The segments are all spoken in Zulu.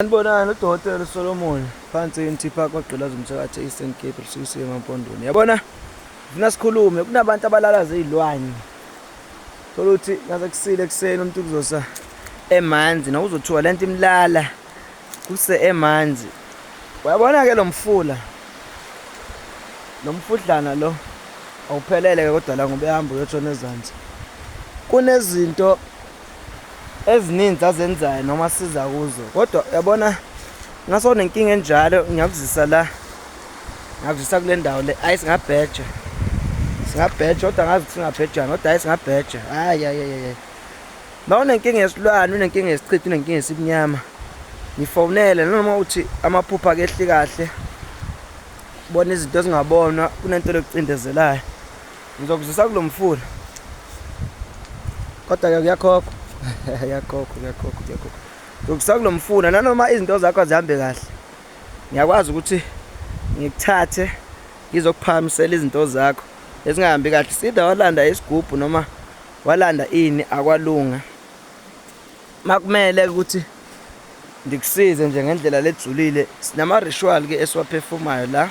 Sanibonani uDokotela Solomon phansi eNT Park kwagqilaza umthakathi e-Eastern Cape lusukisiwe emampondweni. Yabona ngifuna sikhulume kunabantu abalalaza izilwane. Thola ukuthi ngaze kusile ekseni umuntu kuzosa emanzi na uzothiwa lento imlala kuse emanzi. Uyabona ke lomfula. Lomfudlana lo awuphelele ke kodwa la ngoba ehamba uyotshona ezansi. Kunezinto ezininzi azenzayo noma siza kuzo kodwa uyabona ngaso nenkinga enjalo ngiyakuzisa la ngakuzisa kule ndawo le ayi singabheja singabheja kodwa ngazi ukuthi singabhejani kodwa ayi singabheja hayi ayi ma unenkinga yesilwane unenkinga yesichitho unenkinga yesibunyama ngifonele noma uthi amaphupha akehli kahle bona izinto ezingabonwa kunento lokucindezelayo Ngizokuzisa kulomfula. Kodwa ke kuyakhokho. Yakhokho, yakhokho, yakhokho. Ngizokuzisa kulomfula nanoma izinto zakho azihambe kahle. Ngiyakwazi ukuthi ngikuthathe ngizokuphamisela izinto zakho ezingahambi kahle. Sida walanda isigubhu noma walanda ini akwalunga. Makumele ukuthi ngikusize nje ngendlela lejulile sinama ritual ke esiwaphefumayo la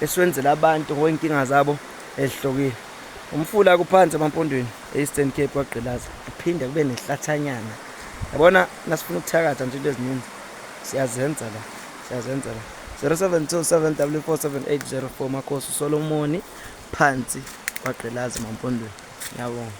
esiwenzela abantu ngoyinkinga zabo ezihlokile umfula kuphansi emampondweni e-eastern cape kwagqilaza kuphinde kube nehlathanyana yabona nasifuna ukuthakatha nje into eziningi siyazenza la siyazenza la 0727 w47804 makhosi usolomoni phansi kwagqilaza emampondweni ngiyabonga